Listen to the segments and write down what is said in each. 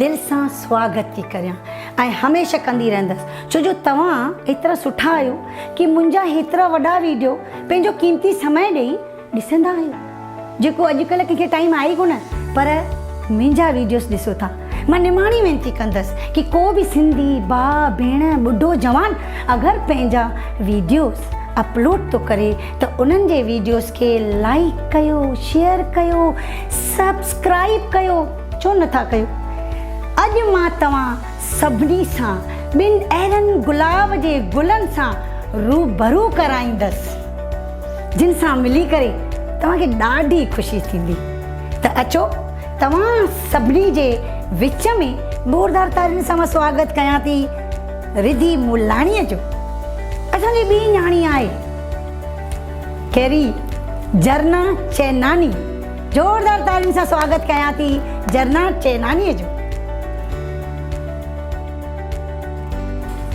دل سان سواگت ٿي ڪريان ۽ هميشه ڪندي رهندس ڇو جو توهان ايترا سٺا آهيو ڪي منهنجا هيترا وڏا ويڊيو پنهنجو قيمتي سمئي ڏئي ڏسندا آهيو جيڪو اڄ ڪلهه ڪنهن کي ٽائيم آهي ئي ڪونه پر منهنجا ويڊيوز ڏسو ٿا مان نماڻي وينتي ڪندس ڪي ڪو به سنڌي ڀاء ڀيڻ ٻڍو جوان اگر پنهنجا ويڊيوز اپلوڊ ٿو ڪري ته انهن جي ويڊيوز کي لائيڪ ڪيو شيئر ڪيو سبسڪرائيب ڪيو. ڇو نه ٿا ڪيو؟ اڄ مان توهان سڀني سان ٻن اهڙن گلاب جي گلن سان روبرو ڪرائيندس، جن سان ملي ڪري توهان کي ڏاڍي خوشي ٿيندي. ته اچو توهان سڀني جي وچ ۾ زوردار تاڙين سان مان سواگت ڪيان ٿي رڌي مولاڻيء جو. اسان جي ٻي نياڻي آهي ڪيري جرنا چيناني. زوردار تاڙين سان سواگت ڪيان ٿي جرنا چيناني جو.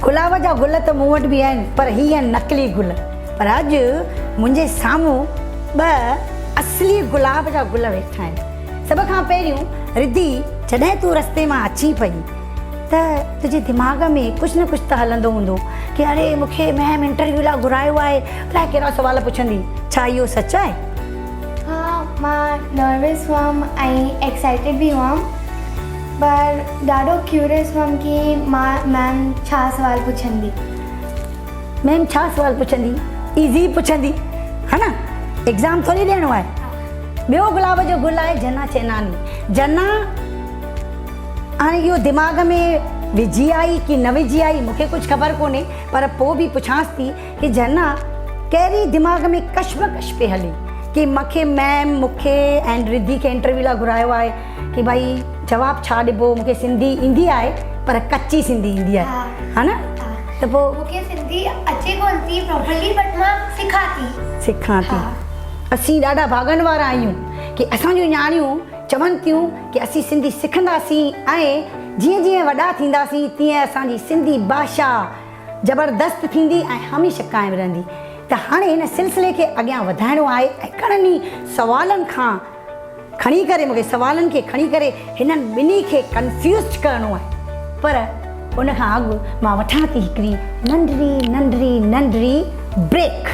گلاب جا گل ته مون وٽ به آهن پر هي آهن نقلي گل پر اڄ منهنجي سامهون ٻه اصلي گلاب جا گل ويٺا آهن سڀ کان پهريون رڌي جڏهن تون رستي مان اچين پئي ته تنهنجي دماغ ۾ ڪجهه نه ڪجهه ته هلندو هوندو ڪي اڙي مون کي ميم انٽرويو لاء گهرايو آهي الاء ڪهڙا سوال پڇندي ڇا اهو سچ آهي ها مان نروس هئم ۽ ايڪسائيٽيڊ به هئم پر ڏاڍو ڪيوريس هئم ڪي مان ميم ڇا سوال پڇندي. ميم ڇا سوال پڇندي ايزي ئي پڇندي ها نه ايگزام ٿوري ڏيڻو آهي. ٻيو گلاب جو گل آهي جنا چيناني جنا هاڻي اهو دماغ ۾ وجهي آئي ڪي نه وجهي آئي مونکي ڪجهه خبر ڪونهي پر پوء به پڇانس ٿي ڪي جهنا ڪهڙي دماغ ۾ ڪشمڪش پي هلي ڪي مان کي ميم مون کي ۽ رڌي کي انٽرويو لاء گهرايو آهي ڪي ڀائي جواب ڇا ڏبو مون کي سنڌي ايندي آهي پر ڪچي سنڌي ايندي آهي ها نه ته پوء مون کي سنڌي اچي ڪونه ٿي پراپرلي بٽ مان سکان ٿي سکان ٿي اسين ڏاڍا ڀاڳن وارا آهيون ڪي اسان جون نياڻيون چون ٿيون ڪي اسين سنڌي سکنداسين ۽ جيئن جيئن وڏا ٿينداسين تيئن اسان جي سنڌي ڀاشا زبردست ٿيندي ۽ هميشه قائم رهندي ته هاڻي هن سلسلي کي اڳيان وڌائڻو آهي ۽ گهڻن ئي سوالن کان کڻي ڪري مون کي سوالن کي کڻي ڪري هنن ٻنهي کي ڪنفيوزڊ ڪرڻو آهي پر ان کان اڳ مان وٺان ٿي هڪڙي ننڍڙي ننڍڙي ننڍڙي بريڪ.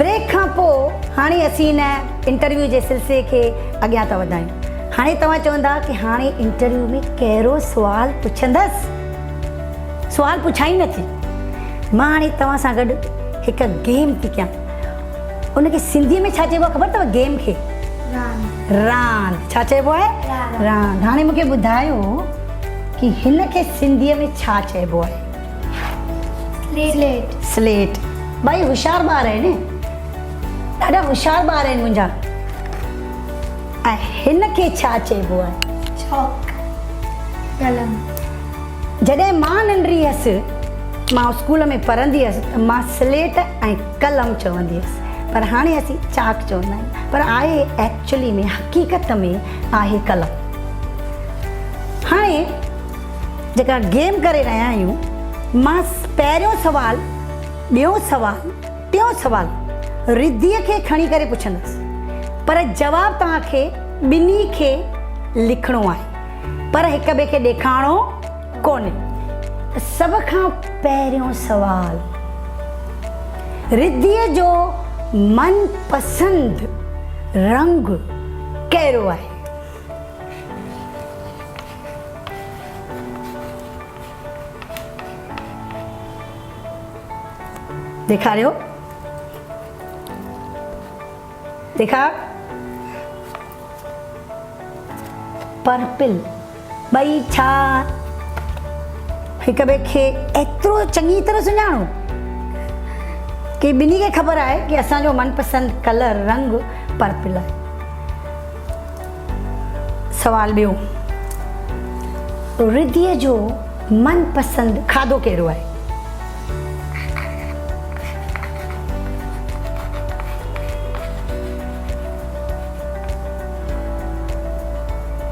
بريڪ کان پوء هاڻي اسين ان انٽرويو جي سلسلي کي اڳيان ٿا وڌايون. هاڻي توهان چوندا ته هاڻي انٽرويو ۾ ڪهڙو سوال پڇندس؟ سوال پڇان ئي نه ٿي. مان هاڻي توهان سان گڏ هڪ گيم ٿي ڪيان. ان کي سنڌي ۾ ڇا چئبو آهي خبر اٿو گيم کي؟ راند. راند. ڇا چئبو آهي؟ راند. هاڻي مون کي ٻڌايو ڪي هن کي سنڌي ۾ ڇا چئبو آهي؟ سليٽ ٻئي هوشيار ٻار آهن ڏاڍا هوشيار ٻار آهن منهنجا ۽ هن کي ڇا چئبو آهي چاڪ قلم جڏهن مان ننڍڙي هيس مان اسڪول ۾ پڙهندي هيس مان سليٽ ۽ قلم چوندي هيس پر هاڻي اسين چاڪ چوندا آهيون پر آهي ايڪچولي ۾ حقيقت ۾ آهي قلم هاڻي جيڪا گيم ڪري رهيا آهيون مان پهريون سوال ٻيون سوال ٽيون سوال رڌيء کي کڻي ڪري پڇندس پر جواب توهان کي ٻنهي کي لکڻو آهي پر هڪ ٻئي کي ڏيکاڻو ڪونهي. سڀ کان پهريون سوال رڌيء جو من پسند رنگ ڪهڙو آهي؟ ڏيکاريو ڏيکار پرپل ٻئي ڇا هڪ ٻئي کي ايترو چڱي طرح سڃاڻو ڪي ٻنهي کي خبر آهي ڪي اسان جو من پسند ڪلر رنگ پرپل آهي سوال ٻيو، رڌيء جو من پسند کاڌو ڪهڙو آهي؟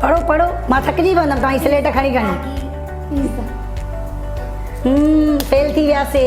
پڙهو پڙهو مان ٿڪجي پوندم توهان جي سليٽ کڻي کڻي. فيل ٿي وياسي.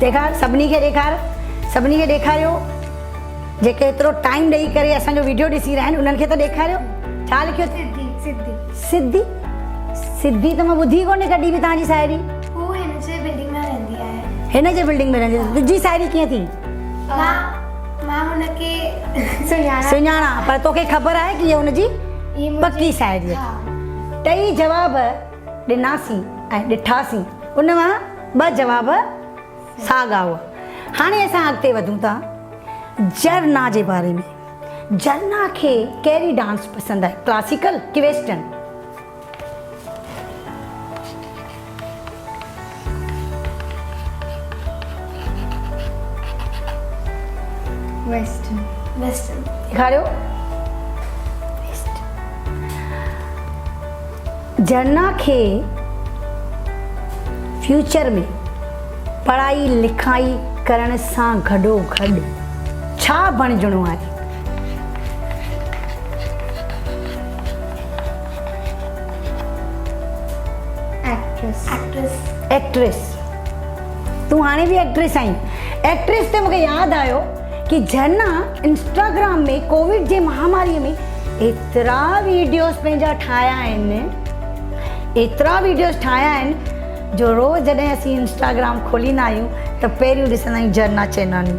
ڏيکار سڀني کي ڏيکار سڀني کي ڏيکاريو جيڪي ايترو ٽائيم ڏئي ڪري اسان جو ويڊيو ڏسي رهيا آهن انهن کي ته ڏيکاريو ڇا لکيو سڌي سڌي سڌي سڌي ته مان ٻڌي ڪونهي ڪڏي به تانجي ساهيڙي هو هن جي بلڊنگ ۾ رهندي آهي هن جي بلڊنگ ۾ رهندي آهي تنهنجي ساهيڙي ڪيئن ٿي مان مان هن کي سڃاڻا سڃاڻا پر توکي خبر آهي ڪي هي هن جي پڪي ساهيڙي آهي ٽئي جواب ڏناسين ۽ ڏٺاسين ان مان ٻه جواب ساڳا هئا. هاڻي اسان اڳتي وڌون ٿا جرنا جي باري ۾ جرنا کي ڪهڙي ڊانس پسند آهي ڪلاسيڪل ڪي ويسٽرن. جهرنا کي فيوچر ۾ پڙهائي لکائي ڪرڻ سان گڏو گڏ ڇا بڻجڻو آهي؟ ايڪٽريس تون هاڻي به ايڪٽريس آهين ايڪٽريس تي مونکي ياد آيو ڪي جهرنا انسٽاگرام ۾ ڪوويڊ جي مهاماري ۾ ايترا ويڊيوز پنهنجا ٺاهيا آهن ايترا ويڊيوز ٺاهيا آهن جو روز جڏهن اسين انسٽاگرام کوليندا آهيون ته پهريون ڏسندا آهيون Jharna Chainani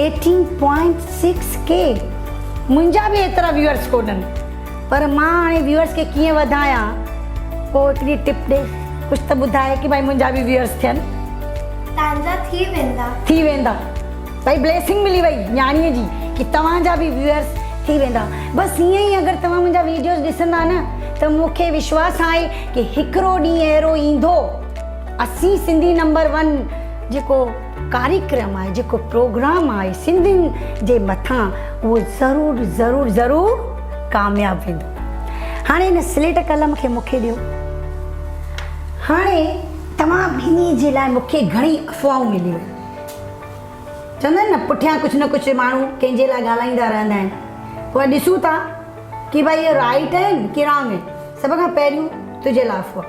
eighteen point six ڪي منهنجا به ايترا ويورس ڪونهن پر مان هاڻي ويورس کي ڪيئن وڌايان ڪو هڪڙي ٽپ ڏي ڪجهه ته ٻڌاء ڪي ڀائي منهنجا به ويورس ٿين. تانجا ٿي ويندا. ٿي ويندا ڀائي بليسنگ ملي وئي نياڻي جي ڪي توهان جا به ويورس ٿي ويندا بس ايئن ئي اگر توهان منهنجا ويڊيوز ڏسندا نه ته مون کي وشواس آهي ڪي هڪڙو ڏينهن اهڙو ايندو اسين سنڌي نمبر ون جيڪو ڪاريڪرم آهي جيڪو پروگرام آهي سنڌين جي مٿان اهو ضرور ضرور ضرور ڪامياب ويندو هاڻي ان سليٽ قلم کي مونکي ڏيو هاڻي توهان ٻنهي جي لاء مونکي گهڻي افواهون مليون چوندا آهن نه پٺيان ڪجهه نه ڪجهه ماڻهو ڪنهن جي لاء ڳالهائيندا رهندا آهن پوء ڏسون ٿا ڪي ڀائي اهي رائيٽ آهن ڪي رانگ آهن سڀ کان پهريون تنهنجي لاء افواهه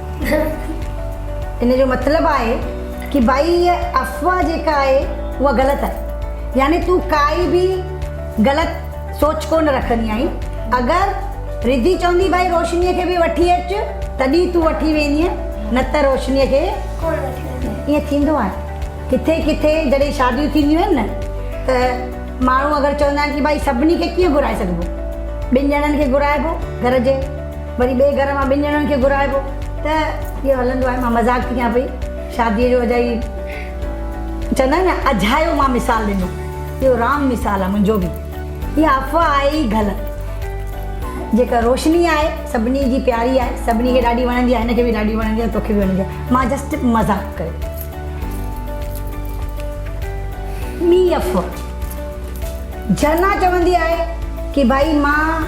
ان جو مطلب آهي ڪي ڀائي هيء افواهه جيڪا آهي اها غلط آهي يعني تون ڪائي به غلط سوچ ڪونه رکندي آهين اگر رڌي چوندي ڀائي روشنيء کي به وٺي اچ تڏهن تون وٺي ويندينء نه ته روشنيء کي ڪونه وٺي ويندينء ائين ٿيندو آهي ڪٿي ڪٿي جڏهن شاديون ٿينديون آهن نه ته ماڻهو اگر چوندا آهن ڪي ڀائي سڀني کي ڪيئن گهرائي سگهبو ٻن ڄڻن کي گهرائبو گهر جي وري ٻئي گهر مان ٻن ڄڻن کي گهرائبو ته اهو هلندو آهي مان مذاق ٿي ڪيان پئي شادي جو اجائي چوندا آهن نه اجايو مان مثال ڏنو اهو رانگ مثال آهي منهنجو به اها افواهه آهي ئي غلط جيڪا روشني آهي سڀني جي پياري آهي سڀني کي ڏاڍي وڻندي آهي هن کي به ڏاڍي وڻندي آهي توکي به وڻندي آهي مان جسٽ مذاق ڪيو ٻي افواهه جهرنا چوندي آهي ڪي ڀائي مان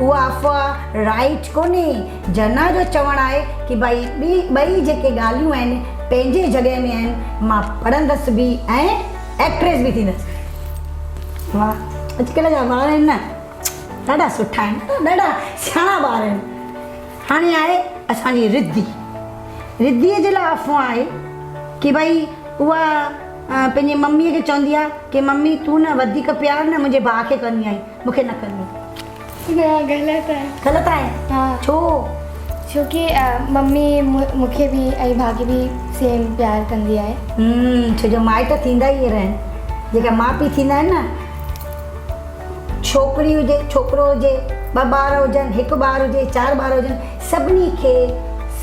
اها افواهه، رائيٽ، ڪونهي. جناح جو چوڻ آهي ته ڀائي ٻي ٻئي جيڪي ڳالهيون آهن پنهنجي جڳهه ۾ آهن، مان پڙهندس به ۽ ايڪٽريس به ٿيندس. واهه اڄڪلهه جا ٻار آهن نه ڏاڍا سٺا آهن ڏاڍا سياڻا ٻار آهن. هاڻي آهي اسان جي رڌي، رڌي جي لاء افواهه آهي ته ڀائي اها پنهنجي ممي کي چوندي آهي ته ممي تون نه وڌيڪ پيار نه منهنجي ڀاء کي ڪندي آهين. مون کي نه ڪندي. نه غلط آهي. غلط آهي؟ ها. ڇو؟ ڇو ڪي ممي مون کي به ۽ ڀاگي به سيم پيار ڪندي آهي. هم ڇو جو مائٽ ٿيندا ئي اهڙا آهن. جيڪا ماء پيء ٿيندا آهن نه ڇوڪري هجي ڇوڪرو هجي ٻه ٻار هجن هڪ ٻار هجي چار ٻار هجن سڀني کي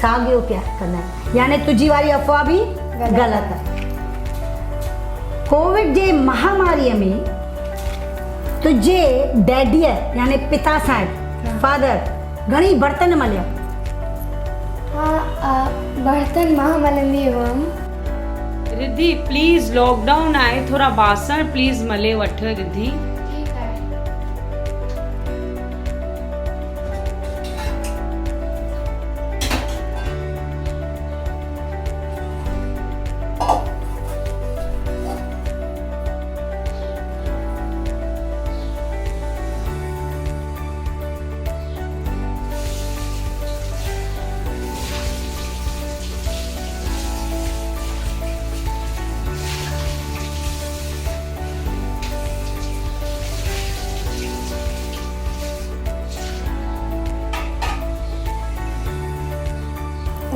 ساڳيو پيار ڪندا آهن يعني تنهنجي واري افواهه به غلط آهي. ڪووڊ جي مهاماري ۾ تنهنجي ڊيڊيء يعني پتا صاحب، Father، گهڻي برتن مليا؟ ها آء برتن مان ملندي هئم. رڌي، پليز لاڪ ڊائون آهي ٿورا باسڻ پليز ملي وٺ رڌي. ٺيڪ آهي.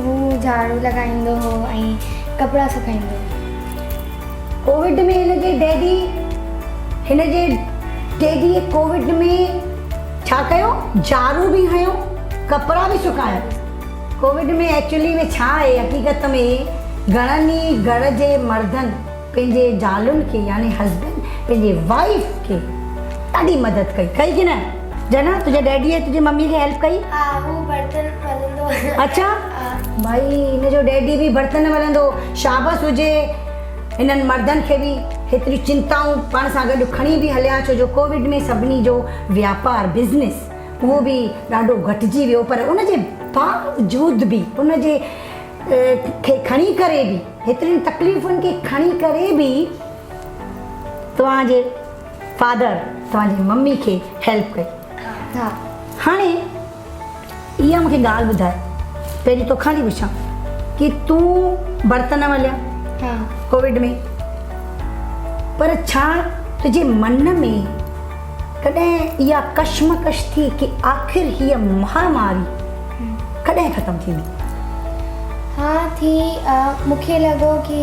هو جهاڙو لڳائيندو هو ۽ ڪپڙا سڪائيندو هو ڪووڊ ۾ هن جي ڊيڊي هن جي ڊيڊيء ڪووڊ ۾ ڇا ڪيو؟ جارو به هنيو، ڪپڙا به سڪايا. ڪووڊ ۾ ايڪچولي ۾ ڇا آهي؟ حقيقت ۾ گهڻن ئي گهر جي مردن پنهنجي زالن کي يعني هسبنڊ پنهنجي وائيف کي ڏاڍي مدد ڪئي. ڪئي ڪي نه؟ جنا تنهنجي ڊيڊي ۽ تنهنجي ممي کي هيلپ ڪئي؟ ها هو برتن ملندو هو. اڇا ڀائي هن جو ڊيڊي به برتن ملندو هو شابس هجي هنن مردن کي به هيتريون چنتائون پاڻ سان گڏ کڻي به هليا ڇو جو ڪووڊ ۾ سڀني جو واپار بزنس اهو به ڏاڍو گهٽجي ويو پر ان جي باوجود به ان جي کي کڻي ڪري به هيترين تڪليفن کي کڻي ڪري به توهان جي فادر توهان جي ممي کي هيلپ ڪئي ها هاڻي اها مون کي ڳالهه ٻڌاء پهرين توکان ٿي پڇان ڪي تون برتن مليا ها ڪوويڊ ۾ پر ڇا تنهنجي من ۾ ڪڏهن اها ڪشمڪش ٿي ڪي آخر هي مهاماري ڪڏهن ختم ٿيندي ها ٿي مون کي لڳو ڪي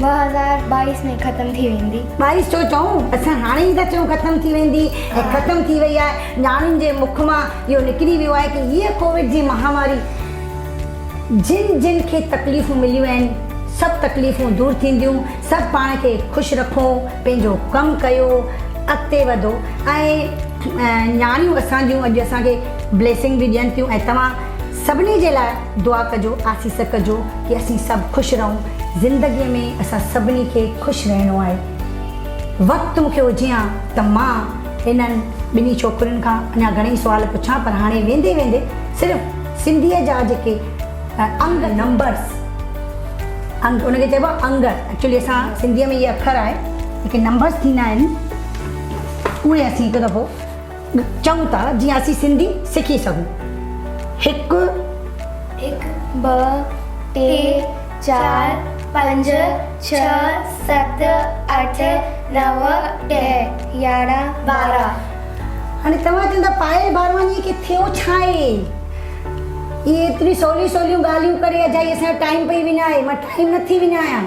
ٻه هزار ٻائيس ۾ ختم ٿي ويندي. ٻائيس ڇو چئون؟ اسان هاڻي ئي ٿا چئون ختم ٿي ويندي ۽ ختم ٿي وئي آهي. ڄاڻين جي مک مان اهو نڪري ويو آهي ته هيء ڪووڊ جي مهاماري جن جن کي تڪليفون مليون آهن، سڀ تڪليفون دور ٿينديون، سڀ پاڻ کي خوش رکو، پنهنجو ڪم ڪيو، اڳتي وڌو ۽ نياڻيون اسان جون اڄ اسان کي بليسنگ به ڏين ٿيون ۽ توهان سڀني جي لاء دعا ڪجو آسيس ڪجو ڪي اسين سڀ خوش رهون زندگي ۾ اسان سڀني کي خوش رهڻو آهي وقت مونکي هجي ها ته مان انهن ٻنهي ڇوڪرين کان اڃا گهڻئي سوال پڇان پر هاڻي ويندي ويندي صرف سنڌي جا جيڪي انگ نمبرس انگ ان کي چئبو انگ ايڪچولي اسان سنڌي ۾ اهي اکر آهي جيڪي نمبرس ٿيندا آهن اهي اسين هڪ دفعو چئون ٿا جيئن اسين سنڌي سکي سگهون هڪ هڪ ٻه ٽي چار پنج ڇهه ست اٺ نو ڏهه يارهن ٻارهن. هاڻي توهان چوندا پائل بارواڻيء کي ٿيو ڇا آهي اهي ايتريون سوليون سوليون ڳالهيون ڪري اجائي اسان جو ٽائيم پئي وڃائي مان ٽائيم نٿي وڃايان.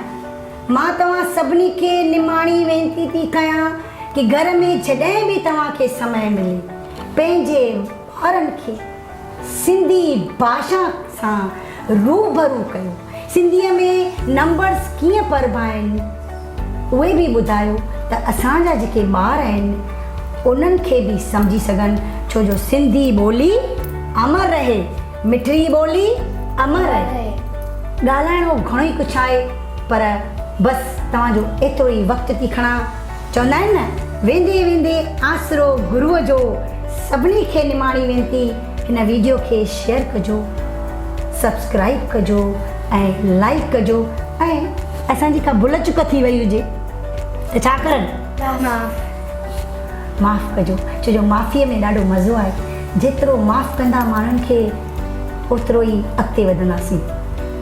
مان توهان سڀني کي نماڻي وينتي ٿي ڪيان ڪي گهر ۾ جڏهن به توهان کي سمئي ملي پنهنجي ٻارن کي سنڌي باشا سان روبرو ڪيو سنڌي ۾ نمبرز ڪيئن پربا آهن اهي به ٻڌايو ته اسان جا جيڪي ٻار آهن انهن کي به سمجهي سگهن ڇو جو سنڌي ٻولي امر رهي مٺڙي ٻولي امر رهي ڳالهائڻو گهڻو ئي ڪڇ آهي. پر بس توهان جو ايترو ئي وقت ٿي کڻان. چوندا آهن نه، ويندي ويندي آسرو گروء جو. سڀني کي نماڻي وينتي هن ويڊيو کي شيئر ڪجو، سبسڪرائيب ڪجو ۽ لائيڪ ڪجو ۽ اسان جي ڪا ڀل چڪ ٿي وئي هجي ته ڇا ڪرن؟ معاف ڪجو ڇو جو معافي ۾ ڏاڍو مزو آهي. جيترو معاف ڪندا ماڻهن کي اوترو ئي اڳتي وڌنداسين.